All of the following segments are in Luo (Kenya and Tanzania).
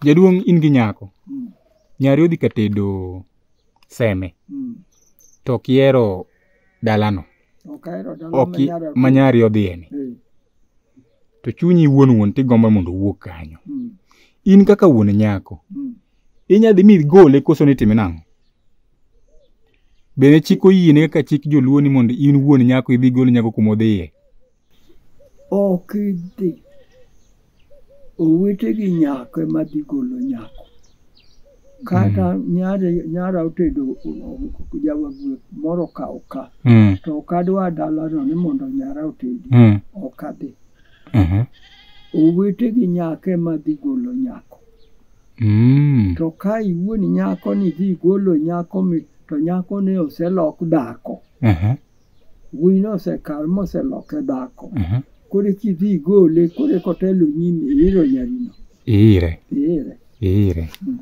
Jaduong' in gi nyako. Mm. Nyari odhi ka tedo seme. Mm. To ok ihero dalano. Ok ahero dalano Ok i- manyara. ma nyari odhiyeni. Eh, To chunyi wuon wuon tigombo mondo owuog kanyo. mm, In kaka wuon nyako. mm. Inya dhi mi gole koso ni time nang'o? Bende chik oyiene kaka chik joluo ni mondo in wuon nyako idhi gol nyako kuma odhiye. Ok idhi. Owete gi nyako ema dhi golo nyako. Kata nyare nyara otedo jawaguo moro ka oka. Mm. To ok adwa dalano ni mondo nyara otedi. Mm. Ok adhi. Mhm. Owete gi nyako ema dhi golo nyako. Mm. To ka iwuon nyako ni dhi golo nyako mi to nyako ne oselok dhako. Mhm. Wuoyi no osekal moseloke dhako. Mhm. Koro eki idhi igole, koro eka otelo nyimi iiro nyarino. Iire. Iire. Iire. Mm.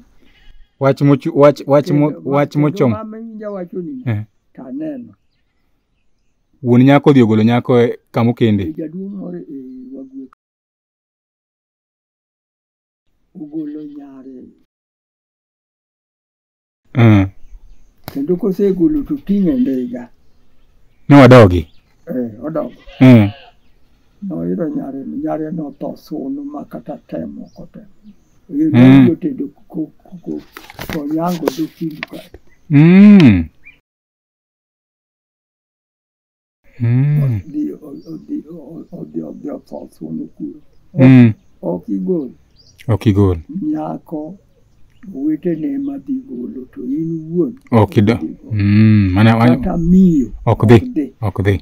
Wach mochu wach wach mo Kendo wach kendo mochom. mama winja wacho ni Eh. to aneno. Wuon nyako odhi ogolo nyako e kama okende. Jaduong' moro e wagwe ogolo nyare Mm. kendo kosegolo to ting' e ndiga Ne wadogi. eh, odongo Mm. noyudo nyare nyare notho sunu ma kata temo ok otemo Mm. jotedo konyango dokindu kae Mm. Mm. Odhi- odhi- odhi odhi otho thuono kuro Mm. ok igol Ok igol. nyako wetene madhi golo to in wuon Ok ido. idhi golo. Mm. Mana kata miyo ok dhi. ok dhi